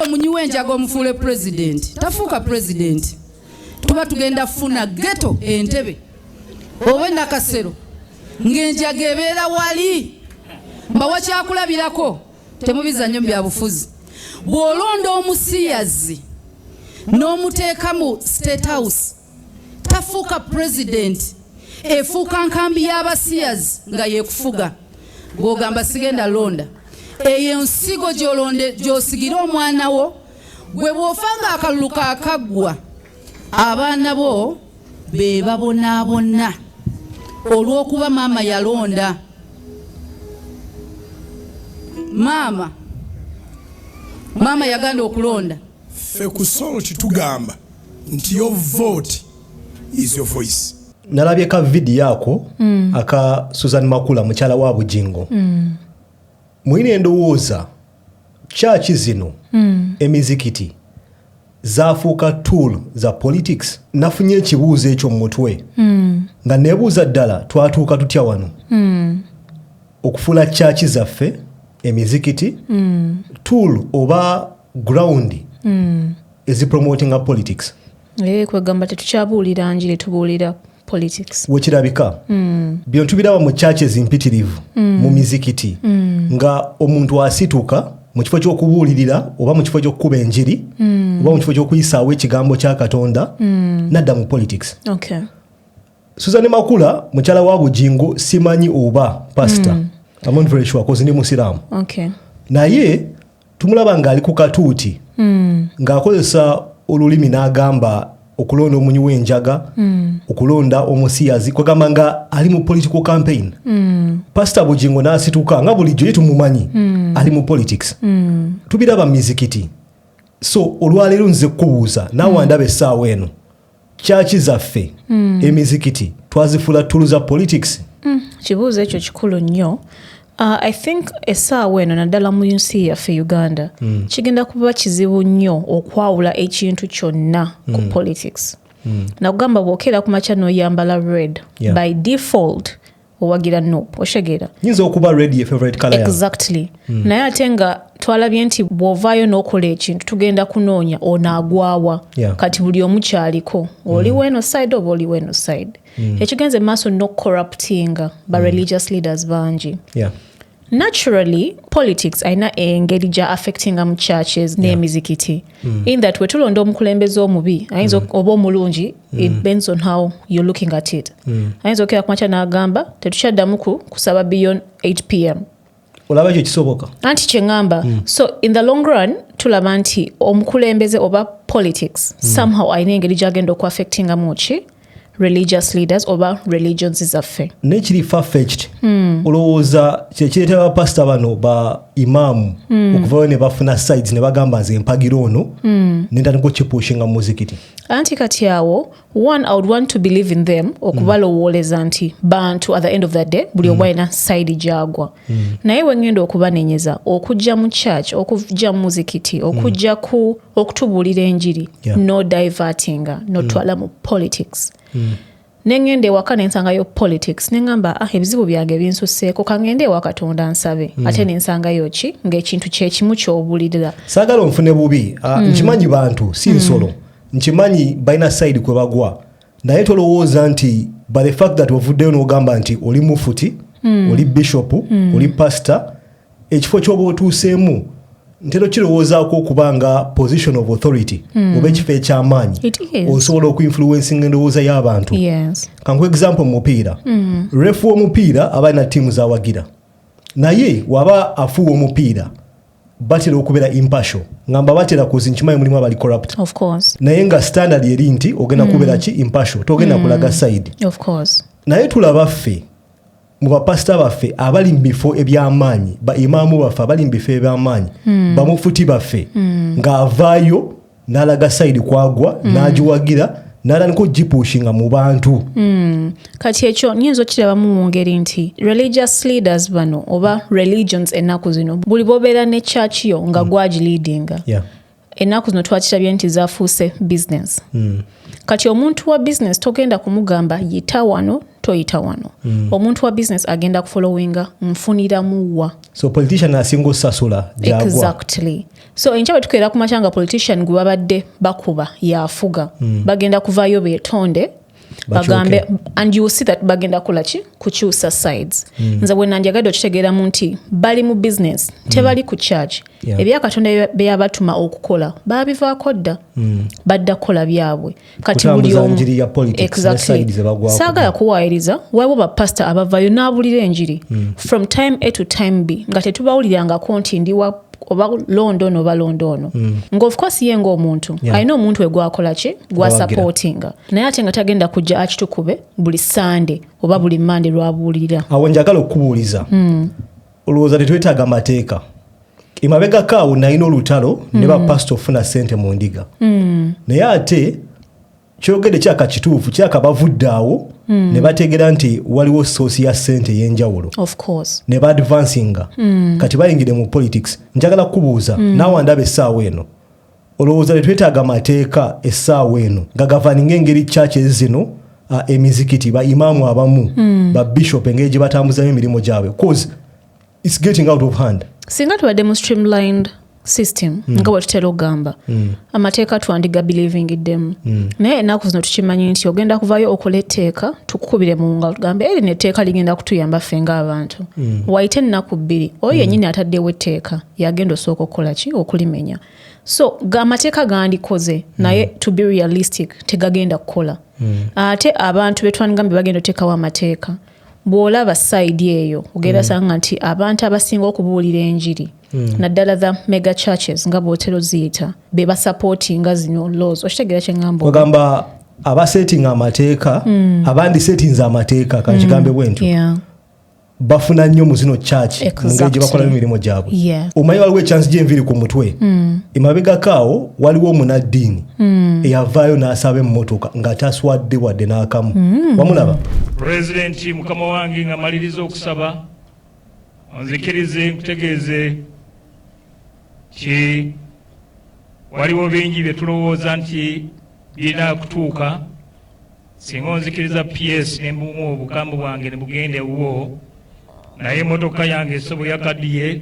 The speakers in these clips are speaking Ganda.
omunyi w'enjaga omufuule pulezidenti tafuuka pulezidenti tuba tugenda funa geto entebe oba enakasero ng'enjaga ebeera wali mbawa kyakulabirako temubiza nnyo mu byabufuzi bw'olonda omusiyazi n'omuteekamu state house tafuuka pulezidenti efuuka nkambi y'abasiyazi nga yekufuga gwogamba sigenda londa eyo ensigo gyolonde gyosigira omwana wo gwe bwofa nga akalulu kakaggwa abaana bo be babonaabona olw'okuba maama yalonda maama maama yaganda okulonda ffe ku salt tugamba nti yo vote is your voice nalabye ka vidiyo ako mm. aka susan makula mukyala wa bujingo mm. mulina endowooza kyaki zino mm. emizikiti zafuuka tool za politics nafunye ekibuuzo ekyo mumutwe mm. nga nebuuza ddala twatuuka tutya wano mm. okufuula kyaki zaffe emizikiti mm. tool oba ground mm. ezi promotinga politics eh, kwegamba tetukyabuulira njiri tubuulira politics wekirabika mm. bino tubiraba mu churches mpitirivu mm. mu mizikiti mm. nga omuntu asituka mu kifo ky'okubuulirira oba mu kifo ky'okukuba enjiri mm. oba mu kifo ky'okuyisaawo ekigambo kya katonda mm. nadda mu politics okay. Susan Makula mukyala wa Bujingo simanyi oba pastor. Mm. I'm not very sure cause ni Musiramu. Okay. Naye tumulaba nga ali ku katuuti. Mm. Nga akozesa olulimi n'agamba okulonda omunyi w'enjaga mm. okulonda omusiyazi kwegamba nga ali mu political campaign mm. pasita bugingo n'asituka nga bulijjo ye tumumanyi mm. ali mu politics mm. tubiraba mizikiti so olwaleero nze kukubuuza naawe mm. andaba essaawa eno kyaki zaffe mm. emizikiti twazifula tulu za politics mm. kibuuzo ekyo kikulu nnyo uh, i think esaawa eno naddala mu nsi yaffe uganda mm. kigenda kuba kizibu nnyo okwawula ekintu kyonna ku mm. politics mm. nakugamba bwokeera ku makya noyambala red yeah. by default owagira nup okitegeera nyinza okuba red ye favorite color exactly mm. naye ate nga twalabye nti bw'ovaayo n'okola ekintu tugenda kunoonya onaagwawa yeah. kati buli omu kyaliko oli mm. weno side oba oli weno side mm. ekigenze maaso nokucorruptinga ba mm. religious leaders bangi yeah. naturally politics alina engeri gya affectinga mu churches n'emizikiti mm. in that wetulonda omukulembeze omubi ayinza mm. oba omulungi mm. it bends on how you're looking at it ayinza okera kumakya n'agamba tetukyaddamu kusaba beyond 8 pm olaba ekyo kisoboka anti kyeŋamba so in the long run tulaba nti omukulembeze oba politics somehow alina engeri gyagenda okuaffectingamu ki religious leaders oba religions zaffe nekiri fafecht mm. olowooza kyekireeta bapasita bano ba imaamu mm. okuvayo ne bafuna sides ne bagamba nze empagira ono mm. nentandika okipushinga mu muzikiti anti kati awo one i would want to believe in them okubalowooleza mm. nti bantu at the end of the day buli mm. omu alina side gyagwa Mm. naye wengenda okubanenyeza okujja mu church okujja mu muzikiti mm. okujja ku okutubuulira enjiri no divertinga notwala mm. mu politics nengenda ewaka nensangayo politics nengamba ah ebizibu byange binsuseeko kangende ewa katonda nsabe ate nensangayo ki ngaekintu kyekimu kyobulirira sagala onfune bubi ah, nkimanyi bantu si nsolo nkimanyi balina side kwe bagwa naye tolowooza nti by the fact that ovuddeyo n'ogamba nti oli mufuti mm. oli bishop mm. oli pastor ekifo kyoba otuuseemu ntera okirowoozaako okuba nga position of authority mm. oba ekifo ekyamaanyi osobola okuinfluencing endowooza y'abantu yes. kanku example mupiira mm. refu omupiira aba alina tiimu zawagira naye waba afuuwa omupiira batera okubeera impasho nga mba batera kozi nkimanyi mulimu abali corrupt naye nga standard eri nti ogenda mm. kubeera ki impasho togenda mm. kulaga side naye tulaba ffe mu bapasita baffe abali mu bifo eby'amaanyi baimaamu baffe abali mu bifo eby'amaanyi mm. bamufuti baffe mm. ng'avaayo n'alaga sayidi kwagwa mm. n'agiwagira n'atandika ogipuushinga mu bantu mm. kati ekyo nyinza okukirabamu mu ngeri nti religious leaders bano oba religions ennaku zino buli bobeera ne church yo nga mm. gwagiliidinga yeah. ennaku zino twakirabye nti zafuuse business mm. kati omuntu wa business togenda kumugamba yita wano toyita wano mm. omuntu wa business agenda kufollowinga nfuniramuwa so politician asinga osasula exactly so enkya bwe tukeera ku makya nga politician gwe babadde bakuba yafuga mm. bagenda kuvaayo betonde bagambe and you see that bagenda kola ki kukyusa sides mm. nze bwenandyagadde okitegeeramu nti bali mu business mm. tebali ku charge yeah. ebyakatonda beyabatuma okukola babivaako dda mm. badda kukola byabwe kati buli omu exactly saagala kuwaayiriza waliwo bapasita abavayo n'abulira enjiri mm. from time a to time b nga tetubawulirangako nti ndiwa oba londa ono oba londa ono mm. nga ofcourse ye ngaomuntu yeah. alina omuntu wegwakola ki gwasupportinga naye ate nga tagenda kujja akitukube buli sande oba buli mande lwabuulirira awo njagala okubuuliza mm. olowooza tetwetaaga mateeka emabegako awo nalina olutalo ne mm. bapasita okufuna sente mu ndiga mm. naye ate kyogede kyaka kituufu kyaka bavudde awo mm. ne bategera nti waliwo soosi ya sente eyenjawulo ne baadvansinga kati bayingire mu politics njagala kukubuuza naawe ndaba essaawa eno olowooza tetwetaaga mateeka essaawa eno nga gavaninga engeri kyaki ezino uh, emizikiti baimaamu abamu babishop engeri gye batambuzamu emirimu gyabwe cause it's getting out of hand singa tubadde mu streamlined system mm. nga bwetutera okugamba mm. amateeka twandiga believingiddemu mm. naye enaku zino tukimanyi nti ogenda kuvayo okola etteeka tukukubire mu nga tugambe erino etteeka ligenda kutuyamba ffe ngaabantu mm. waite ennaku bbiri oyo mm. yenyini ataddewo etteeka yagenda osooka okukola ki okulimenya so amateeka gandikoze mm. naye to be realistic tegagenda kukola mm. ate abantu betwandigambe bagenda oteekawo amateeka mm. bw'olaba sayidi eyo ogenda mm. sanga nti abantu abasinga okubuulira enjiri mm. naddala the mega churches nga bwotero ziyita be basapootinga zino laws okitegeera kyeŋamba ogamba abasetinga amateeka mm. abandi setinze amateeka kankigambe mm. bwentyo yeah. bafuna nnyo mu zino church exactly. mungeri gye bakolamu emirimu gyabwe yeah. omanyi waliwo ekyansi gyenviri ku mutwe mm. emabegakaawo waliwo omunaddiini mm. eyavaayo n'asaba emmotoka nga taswadde wadde n'akamu mm. wamulaba pulezidenti mukama wange nga maliriza okusaba onzikirize nkutegeeze ti waliwo bingi bye tulowooza nti birina kutuuka singa onzikiriza ps nembumu obugambo bwange ne bugenda ewuwo naye emotoka yange esobo yakadiye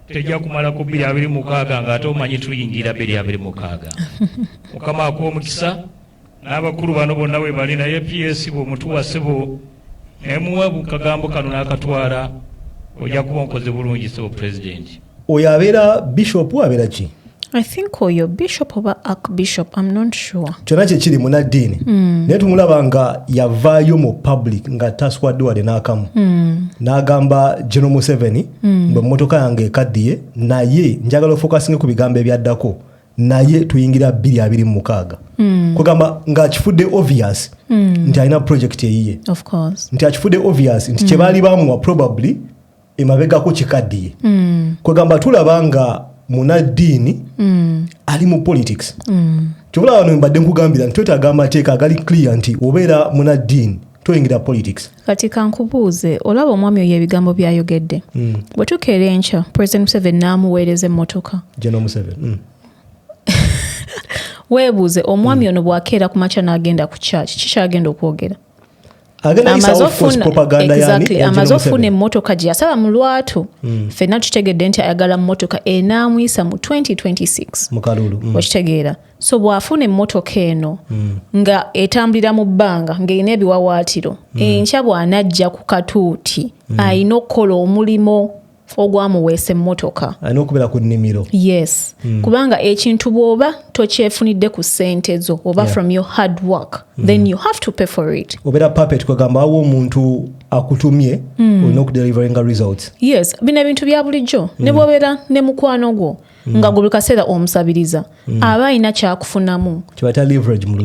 tejja kumala ku bbiri abiri mukaaga nga ate omanyi tuyingira bbiri abiri mukaaga mukama akuwa omukisa n'abakulu bano bonna we bali naye ps bwomutuwa sebo naye muwa kagambo kano n'akatwala ojja kuba onkoze bulungi sebo pulezidenti oyo abeera bishopu abeera ki I think oyo bishop oba ark bishop am not sure kyona kyekiri munaddiini mm. naye tumulaba nga yavaayo mu public nga taswadde wade n'akamu mm. n'agamba geno museveni mm. bwe mmotoka yange ekaddiye naye njagala ofokasinge ku bigambo ebyaddako naye tuyingira 226 mm. kugamba ng'akifudde obvious mm. nti alina project eyiye nti akifudde obvious nti mm. kyebaali bamuwa probably emabegako kikaddiye mm. kwegamba tulaba nga munaddiini mm. ali mu politics mm. kyobula wano mbadde nkugambira nti twetaaga amateeka agali clear nti obeera munaddiini toyingira politics kati kankubuuze olaba omwami oyo ebigambo byayogedde mm. bwe tukeera enkya president museveni n'amuweereza emmotoka general museveni mm. weebuuze omwami mm. ono bw'akeera ku makya n'agenda ku kyaki kikyagenda okwogera amaze ofuna emmotoka gye yasaba mu lwatu mm. fenna tukitegedde nti ayagala mmotoka enaamuyisa mu 2026 mm. okitegeera so bw'afuna emmotoka eno mm. nga etambulira mu bbanga ng'erina ebiwawaatiro mm. enkya bw'anajja ku katuuti mm. alina okukola omulimu ogwamuweesa emmotoka alina okubeera ku nnimiro yes mm. kubanga ekintu bw'oba tokyefunidde ku ssente zo oba yeah. from your hard work mm. then you have to pay for it obeera puppet kwegamba awo omuntu akutumye mm. olina okudelivaringa results yes bino ebintu bya bulijjo mm. ne bwobeera ne mukwano gwo mm. nga buli kaseera omusabiriza mm. aba alina kyakufunamu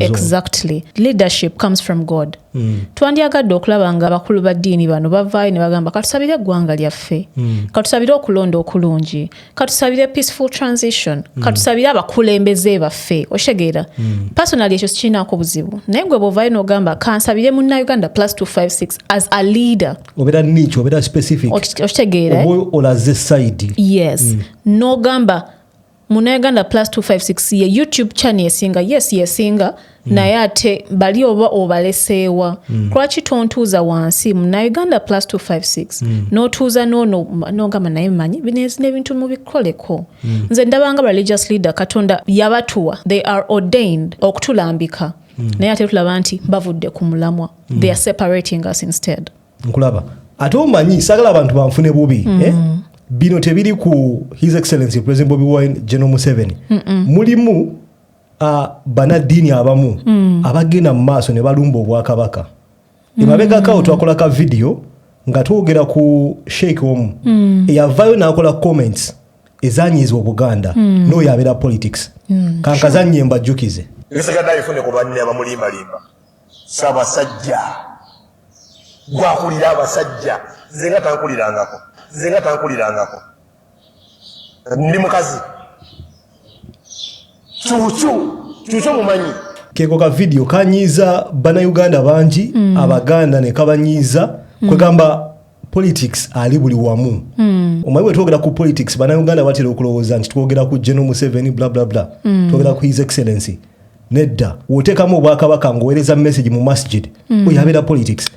exactly leadership comes from god mm. twandyagadde okulaba nga abakulu ba ddiini bano bavaayo ne bagamba katusabire eggwanga lyaffe mm. katusabire okulonda okulungi katusabire peaceful transition mm. katusabire abakulembeze baffe okitegeera mm. personally ekyo sikirinaako buzibu naye gwe bwovayo nogamba kansabire munna uganda plus 256 as a leader obeera niky obeera specific okitegeera eh? olaze side yes mm. nogamba munayuganda plus 256 ye youtube chani esinga yes yesinga mm. naye ate bali oba obaleseewa mm. lwaki tontuuza wansi munayuganda plus 256 mm. notuuza nono nogamba naye manyi binezina ebintu mubikoleko mm. nze ndabanga religious leader katonda yabatuwa they are ordained okutulambika mm. naye ate tulaba nti bavudde ku mulamwa mm. they are separating us instead nkulaba ate omanyi sagala abantu banfune bubi mm. eh? bino tebiri ku his excellency president bobi wine general museveni mm -mm. mulimu uh, banaddiini abamu mm. abagenda mu maaso ne balumba obwakabaka mm. emabegakawo twakola ka vidiyo nga twogera ku sheik omu mm. eyavayo nakola comments ezanyiiza obuganda mm. noyo abeera politics mm. kankazannye sure. mbajjukize nsigadde ayifune ku banne abamulimbalimba sabasajja gwakulira abasajja nze nga tankulirangako nze nga tankulirangako ndi mukazi kyukyu kyukyo mumanyi keko ka vidiyo kanyiiza banauganda bangi mm. abaganda nekabanyiiza mm. kwegamba politics ali buli wamu mm. omanyi bwetwogera ku politics banauganda batera okulowooza nti twogera ku general museveni blablabla mm. twogera ku his excellency nedda woteekamu obwakabaka ngaowereza message mu masjid mm. oyo abeera politics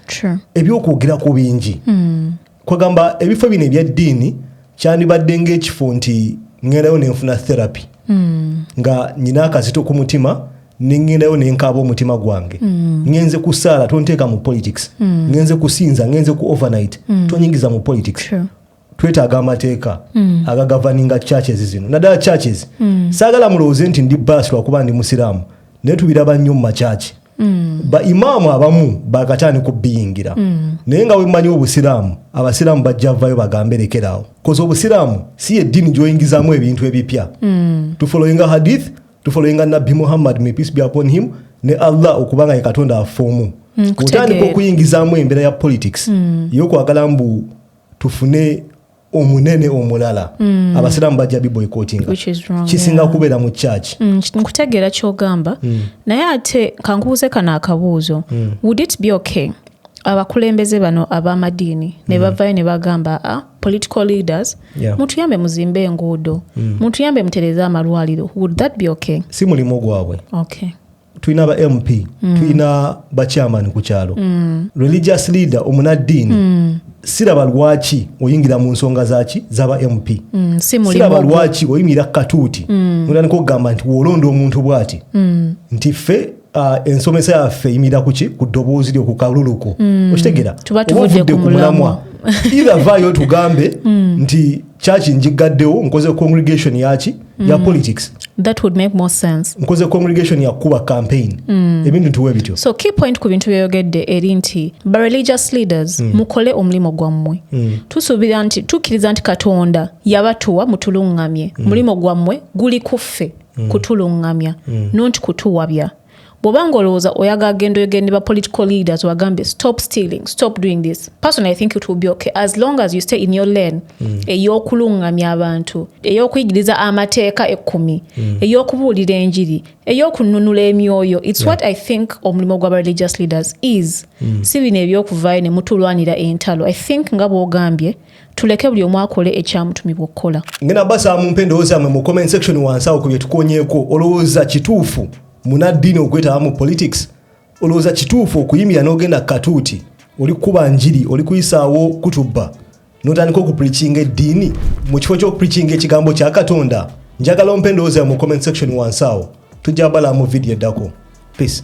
ebyokwogerako bingi mm. kwagamba ebifo bino ebyaddiini kyandibadde ng'ekifo nti ŋŋendayo ne nfuna therapy hmm. nga nyina akazito ku mutima ne ŋŋendayo ne nkaaba omutima gwange hmm. ŋenze ku saala tonteeka mu politics hmm. ŋenze kusinza ŋenze ku overnight tonyingiza mu politics twetaaga amateeka agagavaninga churches zino naddala churches saagala mulowooze nti ndi baasi lwakuba ndi musiraamu naye tubiraba nnyo mu makyaki Mm. ba imaamu abamu bakatani kubiyingira mm. naye nga wemanyi obusiraamu abasiraamu bajja vayo bagambe lekeraawo koza obusiraamu si yeddini gyoyingizamu ebintu ebipya mm. tufoloyinga hadith tufoloyinga nabbi muhammad may peace be upon him ne allah okuba nga ye katonda affe omu mm, otandika okuyingizamu embeera ya politics mm. yokwagala mbu tufune omunene omulala mm. abasiraamu bajja biboycottinga kisinga yeah. kubeera mu church mm, nkutegeera kyogamba mm. naye ate kankubuze kano akabuuzo mm. would it be okay abakulembeze bano abamadiini mm. ne bavayo ne bagamba a ah, political leaders yeah. mutuyambe muzimbe enguudo mm. mutuyambe mutereze amalwaliro would that be okay si mulimu gwabwe okay tulina ba mp mm. tulina bakyamani ku kyalo mm. religious leader omunaddiini mm. siraba lwaki oyingira mu nsonga zaki zaba mp mm, siraba lwaki oyingira katuuti mm. notandika okugamba nti wolonda omuntu bwati mm. nti ffe uh, ensomesa yaffe yimira kuki ku ddoboozi lyo ku kaluluko mm. okitegera oba ovudde ku mulamwa either vayo tugambe mm. nti church njigaddewo nkoze congregation yaki mm. ya politics that would make more sense nkoze congregation ya kuba campaign mm. ebintu tuwe bityo so key point ku bintu byoyogedde eri nti ba religious leaders mm. mukole omulimu gwammwe mm. tusuubira nti tukkiriza nti katonda yabatuwa mutulungamye mm. mulimu gwammwe guli kuffe mm. kutulungamya mm. nonti kutuwabya bwoba nga olowooza oyagala genda oyogere ne ba political leaders obagambe stop stealing stop doing this personally i think it will be okay as long as you stay in your lane mm. ey'okulungamya abantu ey'okuyigiriza amateeka ekkumi mm. ey'okubuulira enjiri ey'okununula emyoyo its yeah. what i think omulimu gwaba religious leaders is mm. si bino eby'okuvaayo ne mutulwanira entalo i think nga bw'ogambye tuleke buli omu akole ekyamutumibwa okukola ngena basa mumpe endowooza mwe mu comment section wansi awo ku bye tukonyeeko olowooza kituufu munaddiini okwetaba mu politics olowooza kituufu okuyimira n'ogenda katuuti oli kukuba njiri oli kuyisaawo kutubba notandika okupricinga eddiini mu kifo ky'okupricinga ekigambo kya katonda njagala ompa endowooza mu comment section wansi awo tujja balaa mu vidiyo eddako peace